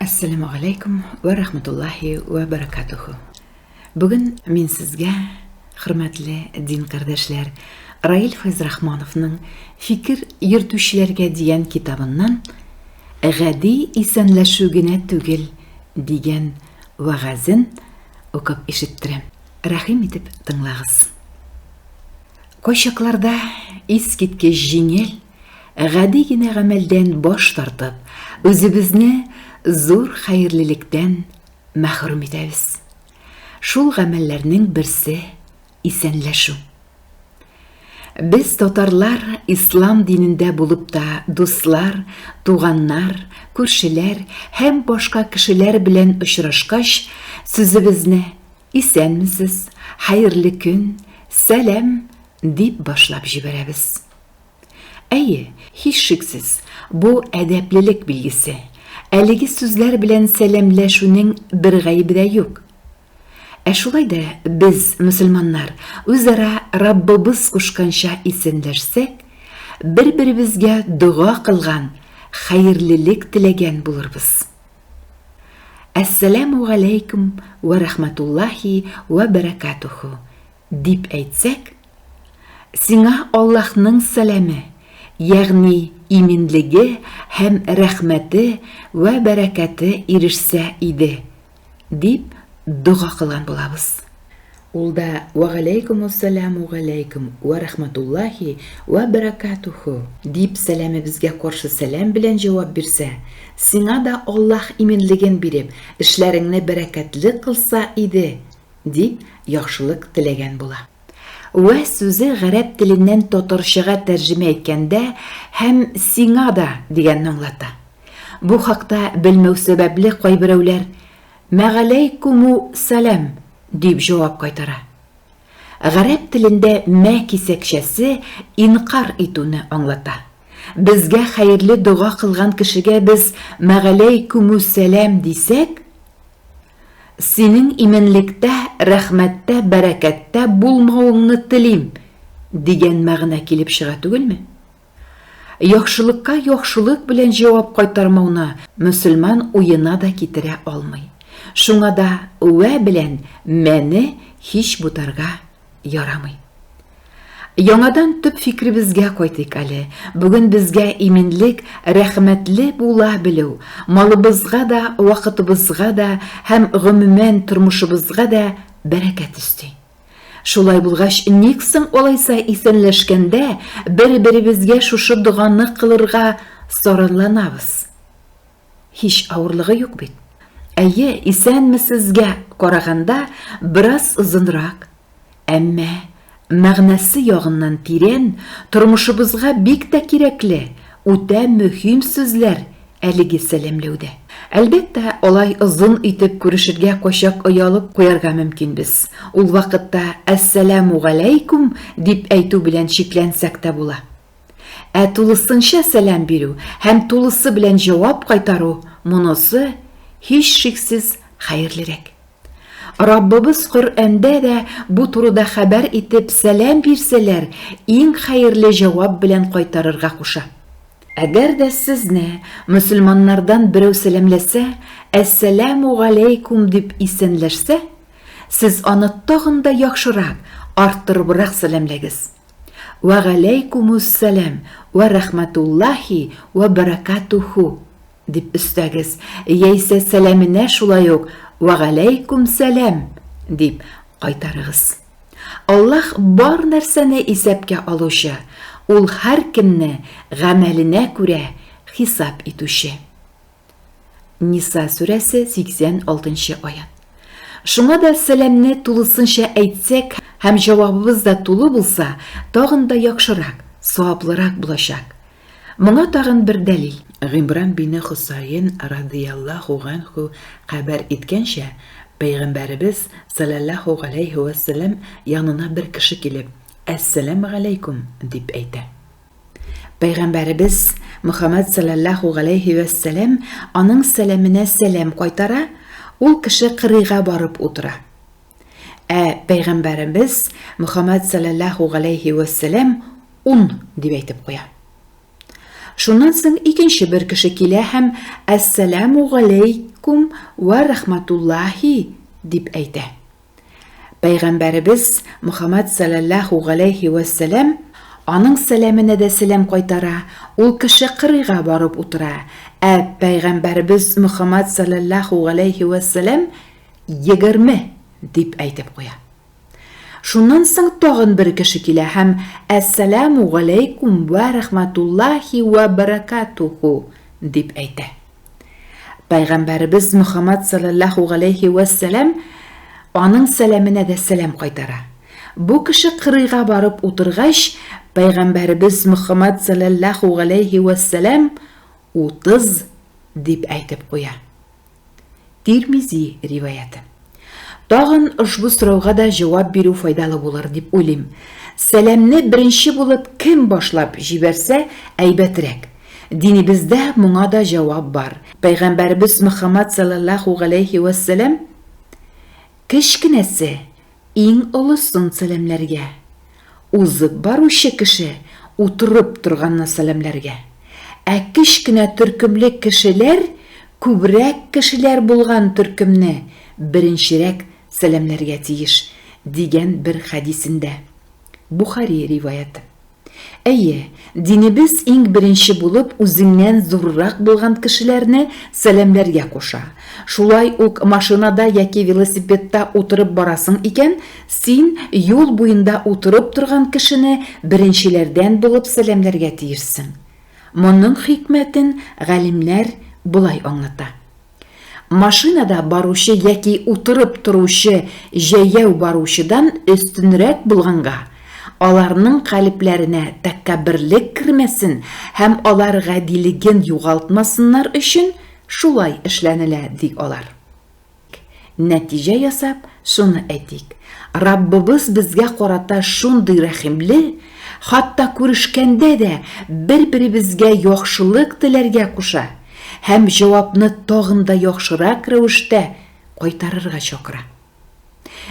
Әссәләмү галәйкүм вә рахмәтуллаһи вә бәрәкәтүһү. Бүген мин сезгә, хөрмәтле дин кардәшләр, Раил Фәйзрахмановның Фикер йөртүчеләргә дигән китабыннан Гади исәнләшү генә түгел дигән вәгазен укып ишеттерәм. Рәхим итеп тыңлагыз. Кайчакларда искиткеч җиңел Гади генә гамәлдән баш тартып, үзебезне зур хәерлелектән мәхрүм итәбез. Шул гамәлләрнең берсе, исәнләшү. Без татарлар ислам динендә булып та дуслар, туганнар, күршеләр һәм башка кешеләр белән очрашкач, сүзебезне исәнмесез, хәерле көн, сәлам дип башлап җибәрәбез. Әйе, һичшиксез, бу әдәплелек билгесе. Әлеге сүзләр белән сәламләшүнең бер гаебе дә юк. Ә шулай да без, мөселманнар, үзара Раббыбыз кушканча исәнләшсәк, бер-беребезгә дога кылган, хәерлелек теләгән булырбыз. Әссәламү галәйкүм вә рахматуллаһи вә бәрәкатүһү, Дип әйтсәк, сиңа Аллаһның сәламе, ягъни иминлеге һәм рәхмәте вә бәрәкәте ирешсә иде, дип дога кылган булабыз. Ул да, Вәгаләйкүмүссәләмү галәйкүм вә рәхмәтуллаһи вә бәрәкәтүһү! Дип сәламебезгә каршы сәлам белән җавап бирсә, сиңа да Аллаһ иминлеген биреп, эшләреңне бәрәкәтле кылса иде, Дип яхшылык теләгән була. Вә сүзе гарәп теленнән татарчага тәрҗемә иткәндә һәм сиңа да дигәнне аңлата. Бу хакта белмәү сәбәпле кайберәүләр Мәгаләйкүмү сәлам дип җавап кайтара. Гарәп телендә мә кисәкчәсе инкар итүне аңлата. Безгә хәерле дога кылган кешегә без Мәгаләйкүмү сәлам дисәк, Синең именлектә, рәхмәттә, бәрәкәттә булмавыңны телим, дигән мәгънә килеп чыга түгелме? Яхшылыкка яхшылык белән җавап кайтармауны мөселман уена да китерә алмый. Шуңа да вә белән мәне һич бутарга Ярамый. Яңадан төп фикребезгә кайтыйк әле. Бүген безгә иминлек, рәхмәтле була белү, малыбызга да, вакытыбызга да һәм гомумән тормышыбызга да бәрәкәт өсти. Шулай булгач, ник соң алайса исәнләшкәндә бер-беребезгә шушы доганы кылырга сараланабыз? Һич авырлыгы юк бит. Әйе, исәнмесезгә караганда бераз озынрак, әмма мәгънәсе ягыннан тирән, тормышыбызга бик тә кирәкле, үтә мөһим сүзләр әлеге сәламләүдә. Әлбәттә, алай озын итеп күрешергә кайчак оялып куярга мөмкин без. Ул вакытта Әссәләмү галәйкүм дип әйтү белән чикләнсәк тә була. Ә тулысынча сәлам бирү һәм тулысы белән җавап кайтару, монысы, һичшиксез, хәерлерәк. Раббыбыз Коръәндә дә бу турыда хәбәр итеп, сәлам бирсәләр, иң хәерле җавап белән кайтарырга куша. Әгәр дә сезне мөселманнардан берәү сәламләсә, Әссәләмү галәйкүм дип исәнләшсә, сез аны тагын да яхшырак, арттырыбрак сәламләгез. Вә галәйкумуссәлам вә рәхмәтуллаһи вә бәрәкатүһү, дип өстәгез, яисә сәламенә шулай ук Вә галәйкүмсәлам, дип кайтарыгыз. Аллаһ бар нәрсәне исәпкә алучы, Ул һәркемне гамәленә күрә хисап итүче. Ниса сүрәсе 86 нчы аят. Шуңа да сәламне тулысынча әйтсәк һәм җавабыбыз да тулы булса, тагын да яхшырак, саваплырак булачак. Моңа тагын бер дәлил. Гимран бине Хосаен радыяллаху ганху хәбәр иткәнчә, Пәйгамбәребез саләллаху галәйһи вәссәлам янына бер кеше килеп, Әссәләмү галәйкүм! дип әйтә. Пәйгамбәребез Мөхәммәд салләллаһу галәйһи вә сәләм аның сәламенә сәлам кайтара, ул кеше кырыйга барып утыра. Ә Пәйгамбәребез Мөхәммәд салләллаһу галәйһи вә сәләм ун дип әйтеп куя. Шуннан соң икенче бер кеше килә һәм Әссәләму галәйкүм вә рәхмәтуллаһи дип әйтә. Пәйгамбәребез Мөхәммәд сәләллаһу галәйһи вә сәлам, аның сәламенә дә сәлам кайтара, ул кеше кырыйга барып утыра, ә Пәйгамбәребез Мөхәммәд сәләллаһу галәйһи вә сәлам егерме дип әйтеп куя. Шуннан соң тагын бер кеше килә һәм Әссәләмү галәйкүм вә рәхмәтуллаһи вә бәрәкәтүһү дип әйтә. Пәйгамбәребез Мөхәммәд салләллаһу галәйһи вә сәлам аның сәламенә дә сәлам кайтара. Бу кеше кырыйга барып утыргач, Пәйгамбәребез Мөхәммәд салләллаһу галәйһи вә сәлам, Утыз, дип әйтеп куя. Тирмизи риваяте. Тагын ошбу сорауга да җавап бирү файдалы булыр дип уйлыйм. Сәламне беренче булып кем башлап җибәрсә, әйбәтрәк. Динебездә моңа да җавап бар. Пәйгамбәребез Мөхәммәд салләллаһу галәйһи вәссәлам, Кечкенәсе, Иң олысын сәламләргә. Узып баручы кеше утырып торганны сәламләргә. Ә кечкенә төркемле кешеләр күбрәк кешеләр булган төркемне беренчерәк сәламләргә тиеш, дигән бер хәдисендә. Бухари риваяте. Әйе, динебез иң беренче булып үзеңнән зуррак булган кешеләрне сәламләргә куша. Шулай ук машинада яки велосипедта утырып барасың икән, син юл буенда утырып торган кешене беренчеләрдән булып сәламләргә тиешсең. Моның хикмәтен галимнәр болай аңлата. Машинада баручы яки утырып торучы җәяү баручыдан өстенрәк булганга, аларның калебләренә тәккәбберлек кермәсен һәм алар гадилеген югалтмасыннар өчен шулай эшләнелә, ди алар. Нәтиҗә ясап, шуны әйтик, Раббыбыз безгә карата шундый рәхимле, хатта күрешкәндә дә бер-беребезгә яхшылык теләргә куша һәм җавапны тагын да яхшырак рәвештә кайтарырга чакыра.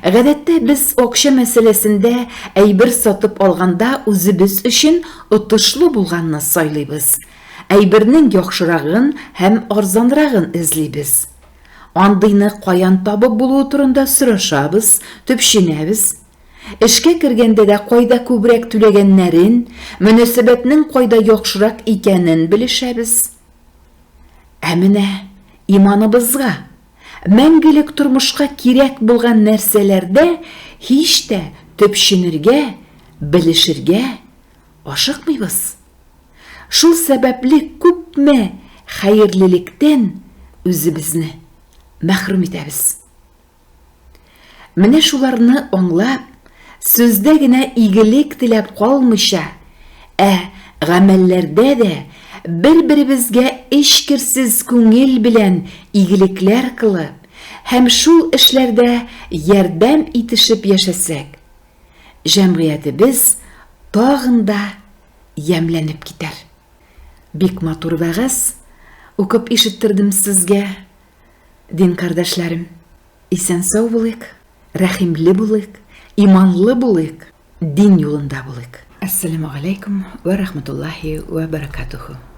Гадәттә без акча мәсьәләсендә әйбер сатып алганда үзебез өчен отышлы булганны сайлыйбыз, әйбернең яхшырагын һәм арзанрагын эзлибез. Андыйны каян табып булуы турында сорашабыз, төпченәбез. Эшкә кергәндә дә кайда күбрәк түләгәннәрен, мөнәсәбәтнең кайда яхшырак икәнен белешәбез. Ә менә иманыбызга, мәңгелек тормышка кирәк булган нәрсәләрдә һич тә төпченергә, белешергә, Ашыкмыйбыз. Шул сәбәпле күпме хәерлелектән үзебезне мәхрүм итәбез. Менә шуларны аңлап, сүздә генә игелек теләп калмыйча, ә гамәлләрдә дә бер-беребезгә эчкерсез күңел белән игелекләр кылып һәм шул эшләрдә ярдәм итешеп яшәсәк, Җәмгыятебез тагын да ямьләнеп китәр. Бик матур вәгазь укып ишеттердем сезгә, дин кардәшләрем. Исән-сау булыйк, рәхимле булыйк, иманлы булыйк, дин юлында булыйк. Әссәләмү галәйкүм вә рахматуллаһи вә бәрәкәтүһү.